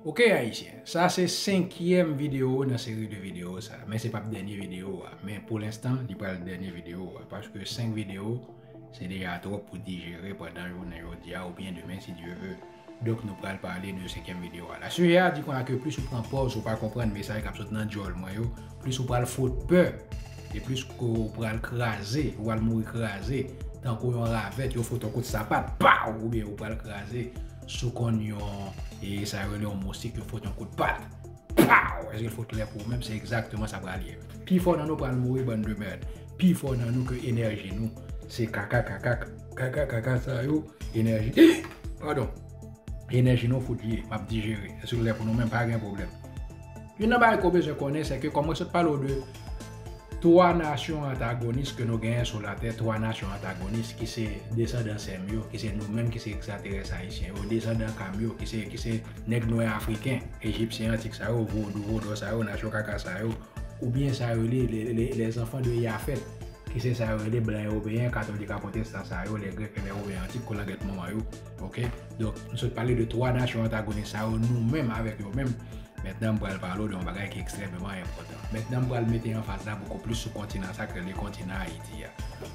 Ok ayisyen, sa se 5 yèm video nan seri de video sa, men se pap dènye video a, men pou lenstan li pral dènye video a, paske 5 video se deja twòp pou dijere pandan jounen jodi a oubyen demen si Dye ve, donk nou pral pale de 5 yèm video a la. Sijè a di konya ke plis ou pran pòz ou pa konprann mesaj kap sot nan djòl mwen yo, plis ou pral fout pè, e plis ke ou pral kraze, ou pral mouri kraze, tankou yon ravèt yo fout yon kout sapat, paw! oubyen ou pral kraze. Si w konn yon, e sa yo rele yon moustik, yo fout yon kout pat. Paw! Èske l fout klè pou ou menm? Se egzakteman sa pral ye. Pifò nan nou pral mouri bann de mèrd. Pifò nan nou ke enèji nou se kaka kaka kaka kaka sa yo enèji padon enèji nou fout ye. M ap dijere. Èske l klè pou nou menm? Pa gen pwoblèm. Youn nan bagay ke w bezwen konnen sèke kòm mwen sot pale w de. 3 nasyon antagonis ke nou genyen sou latè, 3 nasyon antagonis ki se desandan sèm yo, ki se nou menm ki se ekstraterès ayisyen yo, desandan kam yo, ki se, ki se nèg nwè afriken, ejipsyen antik sa yo, vodou, vodò sa yo, nasyon kaka sa yo, ou byen sa yo rele le, le, le zanfan de yafèt, ki se sa yo rele blan ewopeyen, katolik a pwotestan sa yo, le grèk e le women antik, kolangyèt manman yo. Ok, donk m sot pale de 3 nasyon antagonis sa yo nou menm avèk yo menm. Mètnan m pral pale w de yon bagay ki ekstrèmeman enpòtan. Mètnan m pral mete anfaz la bokou plis sou kontinan sa k rele kontinan Ayiti a.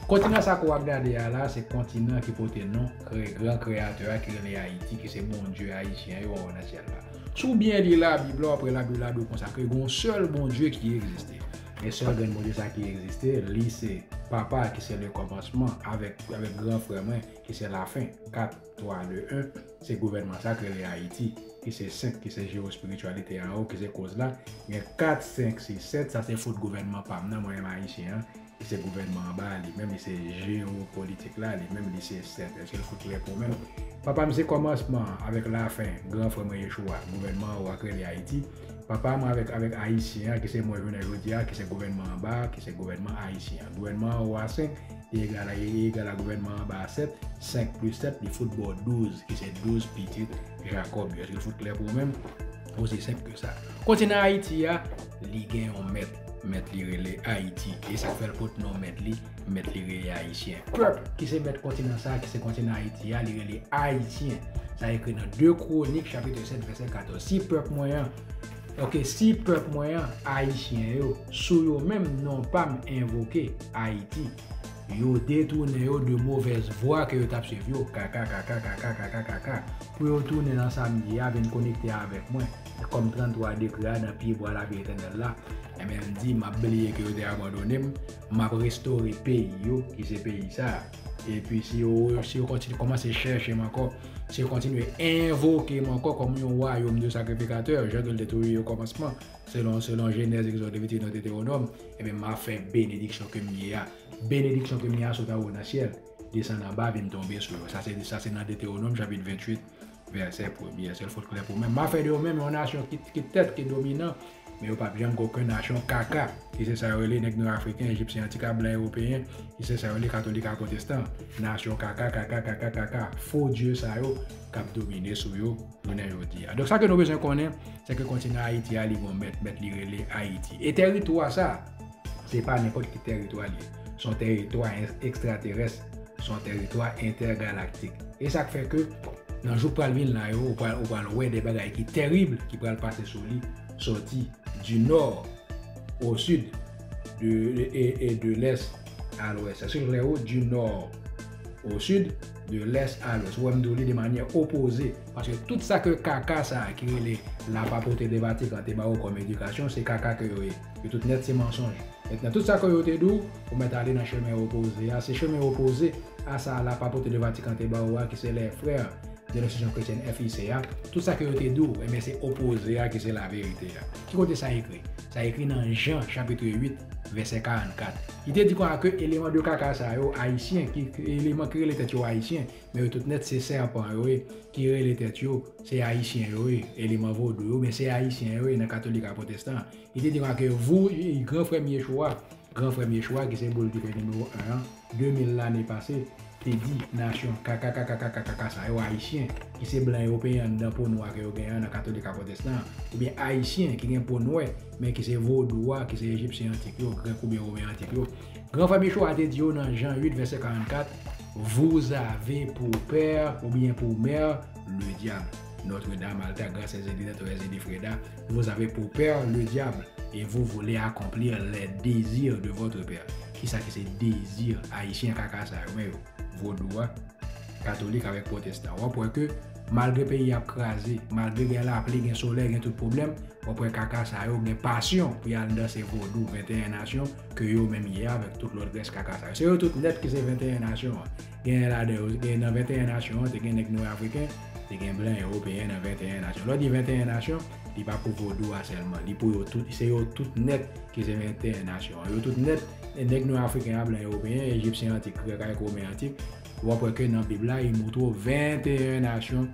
Kontinan sa ke w ap gade a la, se kontinan ki pote non gran kreyatè a ki rele Ayiti, ki se Bondye ayisyen yo anwo nan syèl la. Si w byen li labib la, w ap wè labib la di w konsa ke gen yon sèl Bondye ki egziste. E sèl grenn Bondye sa ki egziste, li se Papa ki se lekòmansman avèk gran frè mwen, ki se lafen, 4, 3, 2, 1, se gouvènman sa k rele Ayiti, ki se 5, ki se jewospirityalite anwo, ki se koz la, gen 4, 5, 6, 7, sa se fot gouvènman pa m nan, mwen menm Ayisyen an, ki se gouvènman anba a, li menm li se jewopolitik la, li menm li se 7. Èske l fout klè pou ou menm? Papa m se kòmansman an avèk lafen, gran frè mwen Yeshua, gouvènman anwo a k rele Ayiti, papa mwen avèk avèk Ayisyen an, ki se mwen jounen jodi a, ki se gouvènman anba a, ki se gouvènman Ayisyen an. Gouvènman anwo a 5. Li egal a li egal a gouvènman anba a 7, 5 plis 7 li fout ba w 12 ki se 12 pitit Jakòb yo. Èske l fout klè pou ou menm? Osi senp ke sa. Kontinan Ayiti a, li gen yon mèt, mèt li rele Ayiti. E sa k fè l pot non mèt li, mèt li rele Ayisyen. Pèp ki se mèt kontinan sa a ki se kontinan Ayiti a, li rele Ayisyen. Sa ekri nan 2 Kwonik chapitre 7 vèsè 14, Si pèp mwen an, Ok si pèp mwen an ayisyen yo sou yo menm non pam envoke ayiti yo detounen yo de movèz vwa ke yo tap swiv yo kakakakakakakakakaka pou yo tounen nan sam ye a vin konekte avèk mwen kòm 33 degre a nan pye bwa lavi etènèl la enben di map bliye ke yo te abandonem map restore peyi yo ki se peyi sa. Epi si yo si yo kontinye kòmanse chèche m ankò, si yo kontinye envoke m ankò kòm yon wayòm de sakrifikatè, jan ke l te toujou ye okòmansman, selon selon Jenèz, Egzòd, Leviti, Nòt, Detewonòm, ebyen m a fè benediksyon ke m ye a, benediksyon ke m ye a sot anwo nan syèl, desann anba vin tonbe sou yo. Sa se sa se nan Detewonòm chapit 28 Vèsè premye, sèl fot klè pou mwen. M ap fè de yo menm yon nasyon ki tèt, ki dominan, men yo p ap janm gen okenn nasyon kaka, ki se sa yo rele nèg nwa afriken, ejipsyen, antika blan ewopeyen, ki se sa yo rele katolik ak pwotestan. Nasyon kaka, kaka, kaka, kaka, fo dye sa yo k ap domine sou yo jounen jodi a. Donk sa ke nou bezwen konnen, se ke kontinan Ayiti a li gen yon mèt, mèt li rele Ayiti. E tèritwa sa a. Se pa nenpòt ki tèritwa l ye. Se yon tèritwa ekstraterès. Se yon tèritwa entègalaktik. E sa k fè ke nan jou k pral vin la yo, ou pral wè de bagay ki terib ki pral pase sou li, sòti di nò o sid, e de lès a lwès. Èske l klè ou? Di nò o sid, de lès a lwès. Ou wè m di w li de manyè opoze. Paske tout sa ke kaka sa a ki rele lapapote de Vatikan te ba ou kòm edikasyon, se kaka ke yo ye. Yo tout nèt se mansonj. Mèt nan tout sa kò yo te di w, ou mèt ale nan chemen opoze a, se chemen opoze a sa la pa pote de Vatikan te ba ou a ki se les frères de l'institution chrétienne FIC a, tout sa ke yo te di w, enben se opoze a ki se la verite a. Ki kote sa ekri? Sa ekri nan Jean chapitre 8 verset 44. Li te di konsa ke eleman de kaka sa yo, Ayisyen, ki eleman ki rele tèt yo Ayisyen, men yo tout nèt se sèpan yo ye, ki rele tèt yo se Ayisyen yo ye, eleman vodou yo, men se Ayisyen yo ye nan katolik ak pwotestan. Li te demake yo, Vou, gran frè m Yeshua, gran frè m Yeshua ki se bouldife nimewo 1 an, 2000 lane pase, te di, Nasyon kakakakakakakaka sa yo, Ayisyen, ki se blan Ewopeyen anndan po nwa ke yo genyen an nan Katolik a Pwotestan an, oubyen Ayisyen ki gen po nwè, men ki se Vodou a, ki se Ejipsyen antik yo, Grèk oubyen Women antik yo, gran frè m Yeshua te di yo nan Jan 8 vèsè 44, Vous avez pour père, oubyen pour mère, le diable. Notre Dame, Alta, Gracia, Zedina, Torres, Zedifreda. Vous avez pour père le diable et vous voulez accomplir les desirs de votre père. Kisa ki se désir Ayisyen kaka sa yo men yo? Vodou a, katolik avèk pwotestan. W ap wè ke malgre peyi a ap kraze, malgre gen lapli, gen solèy, gen tout pwoblèm, w ap wè kaka sa yo gen pasyon pou y al danse vodou 21 nasyon ke yo menm ye a avèk tout lòt rès kaka sa yo. Se yo tout nèt ki se 21 nasyon an. Genyen ladan yo, gen nan 21 nasyon an, te gen nèg nwè afriken, te gen blan ewopeyen nan 21 nasyon. Lè w di 21 nasyon, li pa pou vodou a sèlman, li pou yo tout, se yo tout nèt ki se 21 nasyon an. Yo tout nèt, e nèg nwè afriken a, blan ewopeyen, ejipsyen antik, grèk avèk women antik, w ap wè ke nan Bib la, li montre w 21 nasyon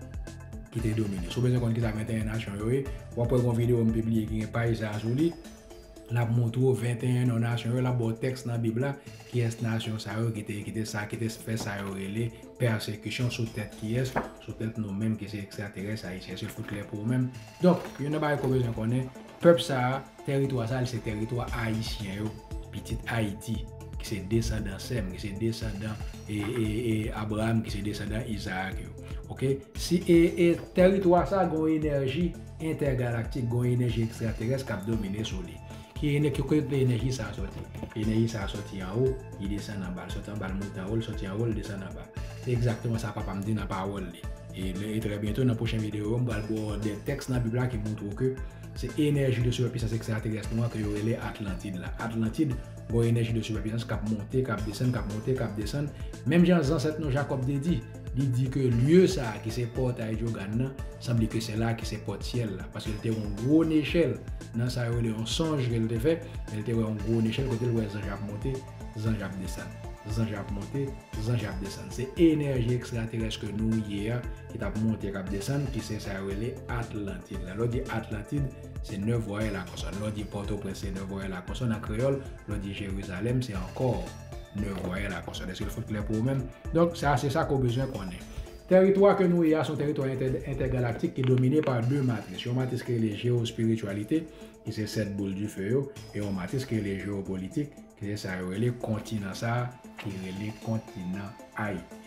ki te domine. Si w bezwen konn kisa 21 nasyon yo ye, w ap wè gon videyo m pibliye ki gen paj sa a sou li. L ap montre w 21 non nasyon yo, l ap ba w tèks nan Bib la, kiyès nasyon sa yo ki te ki te sa ki te fè sa yo rele pèsekisyon sou tèt kiyès, sou tèt nou menm ki se ekstraterès ayisyen se fout klè pou ou menm. Donk, youn nan bagay ke w bezwen konnen, pèp sa a, teritwa sa a li se teritwa ayisyen yo, pitit Ayiti, ki se desandan Sèm, ki se desandan e e e Abraram, ki se desandan Izarak yo. Ok, si e e teritwa sa a gen yon enèji. entègalaktik gon enèji ekstraterès k ap domine sou li. Ki enè, ki kote enèji sa a sòti? Enèji sa a sòti anwo, li desann anba, li sòti anba li monte anwo, li sòti anwo li desann anba. Se egzakteman sa papa m di nan pawòl li. E lè e trè byento nan pwochen videyo yo m pral ba w 2 tèks nan bib la ki montre w ke se enèji de sipèpisans ekstraterès nou an ke yo rele Atlantid la. Atlantid gon enèji de sipèpisans k ap monte, k ap desann, k ap monte, k ap desann, menm jan zansèt nou Jakòb te di. Li di ke lye sa a ki se pòtay Dyogann nan, sanble ke se la ki se pòt syèl la, paske l te wè yon gwo nechèl nan sa yo rele yon sonj ke l te fè, men l te wè yon gwo nechèl kote l wè zanj ap monte, zanj ap desann, zanj ap monte, zanj ap desann. Se enèji ekstraterès ke nou ye a ki t ap monte, k ap desann, ki se sa yo rele Atlantid la. Lè w di Atlantid, se nè vwayèl a konsòn. Lè w di Pòtoprens, se nè vwayèl a konsòn an kreyòl. Lè w di Jerizalèm, se ankò. de voye la konsòn. Eske l fout klè pou ou menm? Donk, sa se sa ke w bezwen konnen. Teritwa ke nou ye a se yon teritwa entègalaktik ki domine pa 2 matris. Yon matris ki rele jewospirityalite, ki se 7 boul dife yo, e yon matris ki rele jewopolitik, ki se sa yo rele kontinan sa a, ki rele kontinan Ayiti.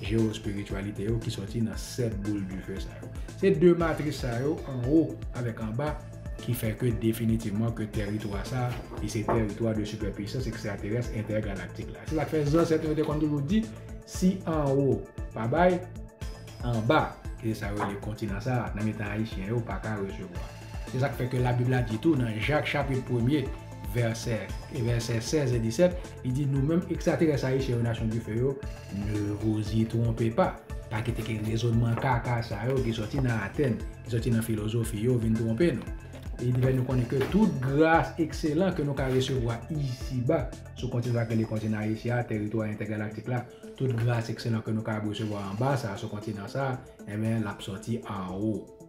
Jewospirityalite yo ki sòti nan sèt boul dife sa yo. Se de matris sa yo, anwo avèk anba, ki fè ke definitivman ke tèritwa sa, li se tèritwa de sipèpwisans ekstraterès entègalaktik la. Se sa k fè zansèt nou yo te konn toujou di, si anwo pa bay, anba, ki se sa yo rele kontinan sa, nan mitan Ayisyen yo, pa ka resevwa. Se sa k fè ke Labib la di tou nan Jak chapit premye, vèsè e vèsè 16 e 17, li di, Nou menm ekstraterès Ayisyen yo nasyon dife yo, ne vous y trompez pas. Pa kite ke rezonman kaka sa yo ki sòti nan Atèn, ki sòti nan filozofi yo vin twonpe nou. E li fè nou konnen ke tout gras ekselan ke nou ka resevwa isi ba, sou kontinan sa k rele kontinan Ayisyen an, teritwa entègalaktik la, tout gras ekselan ke nou kapab resevwa anba sa a, sou kontinan sa a, enben, l ap sòti anwo.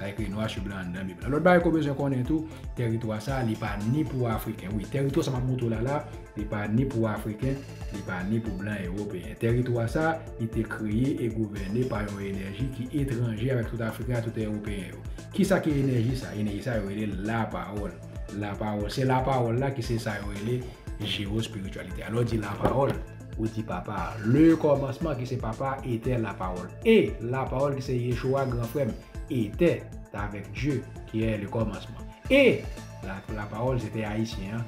Sa ekri nwa su blan anndan bib la. Lòt bagay ke w bezwen konnen tou, tèritwa sa a, li pa ni pou Afriken. Wi, tèritwa sa m ap montre w la la, li pa ni pou Afriken, li pa ni pou blan Ewopeyen. Tèritwa sa a, li te kreye e gouvène pa yon enèji ki etranje avèk tout Afriken ak tout Ewopeyen yo. Kisa ki enèji sa a? Enèji sa a, yo rele l lapawòl. Lapawòl. Se lapawòl la ki se sa yo rele jewospirityalite a. Lè w di lapawòl, Ou di Papa a. Le kòmansman ki se Papa a etè la pawòl. E, la pawòl ki se Yeshoua gran frè m, etè avèk Dye ki è le kòmansman. E, la pawòl se te Ayisyen an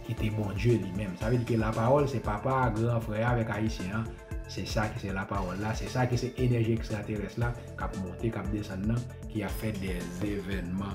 ki te Bondye li menm. Sa vle di ke la pawòl se Papa a, gran frè a avèk Ayisyen an. Se sa ki se la pawòl la. Se sa ki se enèji ekstraterès la k ap monte, k ap desann nan, ki ap fè dè evènman.